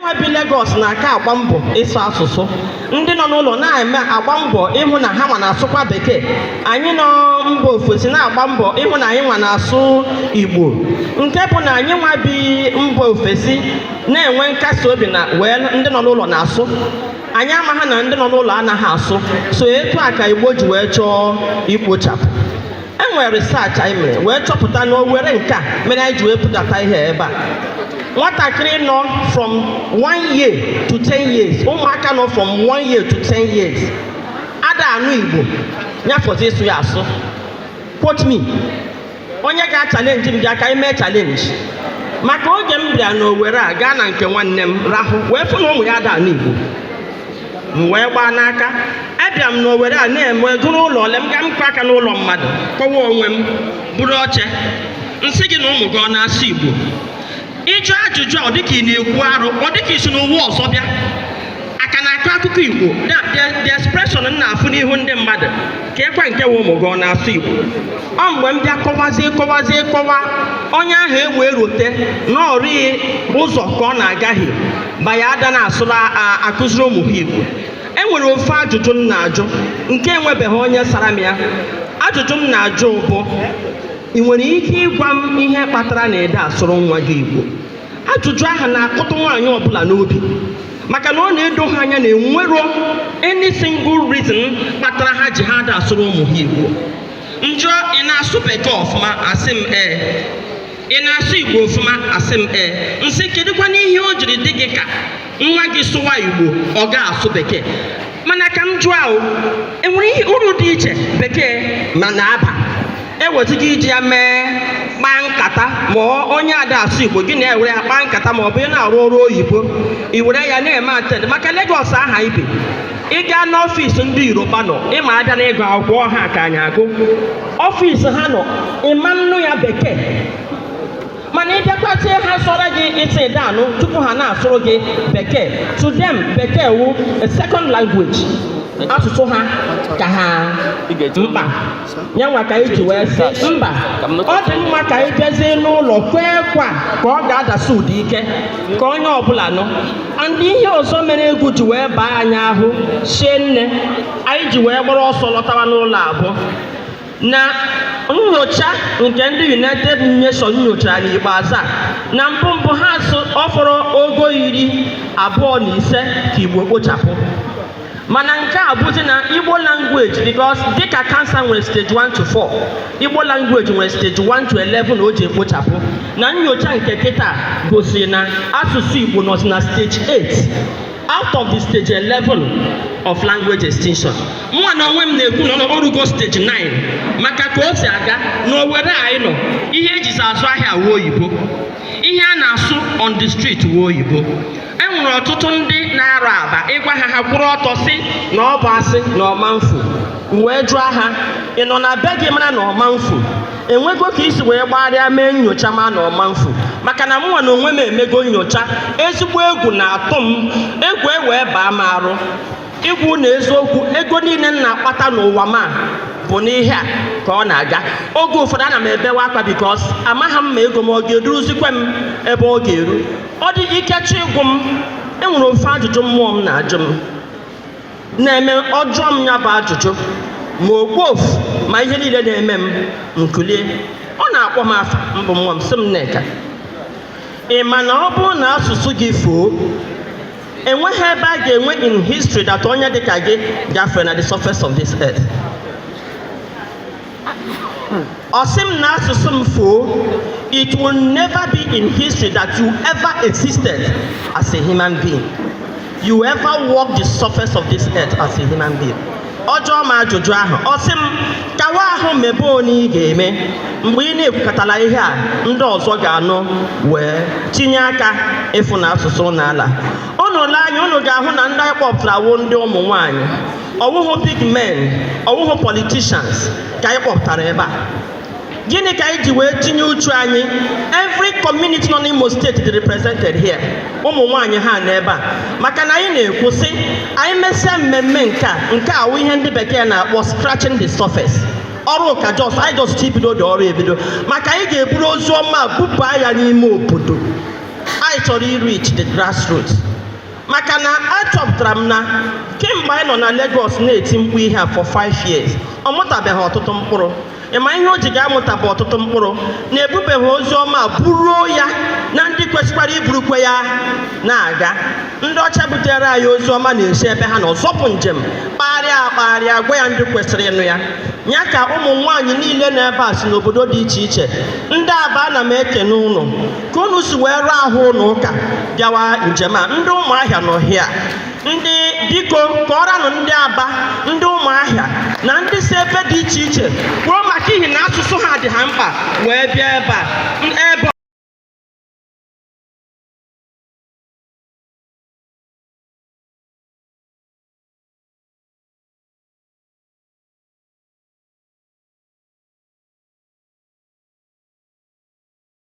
nwa bi Lagos na-aka agba mbọ ịsụ asụsụ ndị nọ n'ụlọ na-eme agba mbọ ịhụ na ha nwa na-asụkwa bekee anyị nọ mba ofesi na-agba mbọ ịhụ na anyị nwa na-asụ igbo nke bụ na anyị nwa bi mba ofesi na-enwe nkasi obi na wee ndị nọ n'ụlọ na-asụ anyị amaghị na ndị nọ n'ụlọ anaghị asụ so etu a ka igbo ji wee chọọ ikpochapụ e nwere research anyị mere wee chọpụta na owere nke a mere anyị ji wee pụta taa ihe ebe a nwatakịrị nọ from one year to ten years ụmụaka nọ from one year to ten years ada anụ igbo nya fọzi ịsụ ya asụ quote me onye ga-achalenji m bịa ka anyị mee challenge maka oge m bịara n'owere a gaa na nke nwanne m rahụ wee fụ na ụmụ ya ada anụ igbo m wee gbaa n'aka abịa m n'owere a na-eme gụrụ ụlọ ole m ga m kụọ aka n'ụlọ mmadụ kọwa onwe m buru oche m sị gị na ụmụ gị ọ na-asụ igbo ị jụọ ajụjụ a ọ dịka ị na-ekwu arụ ọ dịka i si n'ụwa ọzọ bịa ka na-akọ akụkọ igbo the expression m na-afụ n'ihu ndị mmadụ kee kwa nke wụ ụmụ gị ọ na-asụ Igbo ọ mgbe m bịa kọwazie kọwazie kọwa onye ahụ ewee rote na ọ rịghị ụzọ ka ọ na-agaghị ma ya ada na-asụrụ akụziri ụmụ ha Igbo e nwere ofu ajụjụ m na-ajụ nke enwebeghị onye sara m ya ajụjụ m na-ajụ bụ ị nwere ike ịgwa m ihe kpatara na ị da asụrụ nwa gị Igbo ajụjụ ahụ na-akụtụ nwaanyị ọbụla n'obi maka na ọ na-edo ha anya na enwero any single reason kpatara ha ji ha ada asụrụ ụmụ ha igbo m jụọ ị na-asụ bekee ọfụma a sị m ee ị na-asụ igbo ọfụma a sị m ee m sị kedụkwanụ ihe o jiri dị gị ka nwa gị sụwa igbo ọ ga-asụ bekee mana ka m jụọ ahụ enwere ihe uru dị iche bekee nwa na-aba ewezụga iji ya mee kpaa nkata ma onye ada asụ igbo gị na ya ewere ya kpaa nkata ma ọ bụ ị na-arụ ọrụ oyibo i were ya na-eme attend maka Lagos a anyị bi ị gaa n'office ndị yoruba nọ ị ma a bịa na ịgụ akwụkwọ ha ka anyị agụ office ha nọ ị ma nụ ya bekee mana ị bịakwute ha sọrọ gị ịsị danụ tupu ha na-asụrụ gị bekee to them bekee wụ a second language asụsụ ha ka ha mkpa ya nwa ka anyị ji wee sị mba ọ dị mma ka anyị bịazie n'ụlọ kwee kwa ka ọ ga-adasi ụda ike ka onye ọbụla nụ and ihe ọzọ mere egwu ji wee baa anyị ahụ shinne anyị ji wee gbara ọsọ lọtawa n'ụlọ a bụ na nyocha nke ndị United Nations nyochara n'ikpeazụ a na mbụ mbụ ha sị ọ fọrọ ogo iri abụọ na ise ka Igbo kpochapụ mana nke a bụzi na Igbo language because dịka cancer nwere stage 1 to 4 Igbo language nwere stage 1 to 11 o ji ekpochapụ na nyocha nke kịta gosiri na asụsụ Igbo nọzi na stage 8 out of the stage 11 of language extinction mụnwa na onwe m na-ekwu na o rugo stage 9 maka ka o si aga na Owere anyị nọ ihe ejizi azụ ahịa wụ oyibo ihe a na-asụ on the street wụ oyibo e nwere ọtụtụ ndị na-arụ aba ị gwa ha ha kwụrụ ọtọ sị na ọ bụ asị na ọ ma mfu m wee jụọ ha ị nọ na be gị mara na ọ ma mfu enwego ka i si wee gbagharịa mee nyocha ma na ọ ma mfu maka na mụnwa na onwe m emego nyocha ezigbo egwu na-atụ m egwu ewee baa m arụ ịgwa unu eziokwu ego niile m na-akpata n'ụwa m a bụ n'ihe a ka ọ na-aga oge ụfọdụ ana m ebewe akwa because amaghị m ma ego m ọ ga-eduruzikwe m ebe ọ ga-eru ọ dị ike chọọ ịgwụ m enwere ofu ajụjụ mmụọ m na-ajụ m na-eme ọ jụọ m ya bụ ajụjụ ma okpofu ma ihe niile na-eme m m kulie ọ na-akpọ m afa m bụ mmụọ m sị m Nneka ị ma na ọ bụrụ na asụsụ gị fuo enweghị ebe a ga-enwe in history that onye dịka gị gafere na the surface of this earth ọ sị m na asụsụ m fuo, it will never be in history that you ever existed as a human being. You ever walk the surface of this earth as a human being. ọ jụọ m ajụjụ ahụ ọ sị m kawa ahụ mebe onye ị ga-eme mgbe ị na-ekwukọtala ihe a ndị ọzọ ga-anụ wee tinye aka ịfụ na asụsụ n'ala unu lee anya unu ga-ahụ na ndị anyị kpọpụtara wụ ndị ụmụ nwaanyị ọ wụhụ big men ọ wụhụ politicians ka anyị kpọpụtara ebe a gịnị ka anyị ji wee tinye uchu anyị every community nọ n'Imo State dị represented here ụmụ nwaanyị ha nọ ebe a maka na anyị na-ekwu sị anyị mesịa mmemme nke a nke a wụ ihe ndị bekee na-akpọ scratching the surface ọrụ ka anyị just ibido dị ọrụ ebido maka anyị ga-eburu ozi ọma bubaa ya n'ime obodo anyị chọrọ ịreach the grassroots maka na achọpụtara m na kemgbe anyị nọ na Lagos na-eti mkpu ihe a for 5 years ọ mụtabeghị ọtụtụ mkpụrụ ị ma ihe o ji ga-amụta bụ ọtụtụ mkpụrụ na ebubeghị ozi ọma buruo ya na ndị kwesịkwara iburukwe ya na-aga ndị ọcha butere anyị ozi ọma na-esi ebe ha nọ zọpụ njem kpagharịa akpagharịa gwa ya ndị kwesịrị ịnụ ya ya ka ụmụ nwaanyị niile nọ ebe a si n'obodo dị iche iche ndị Aba ana m ekene ụnụ ka unu si wee rụọ ahụ unu ụka bịawa njem a ndị ụmụahịa nọ hịa ndị biko kọọranụ ndị aba ndị ụmụahịa na ndị si ebe dị iche iche kwuo maka ihi na asụsụ ha dị ha mkpa wee bịa ebe a ebe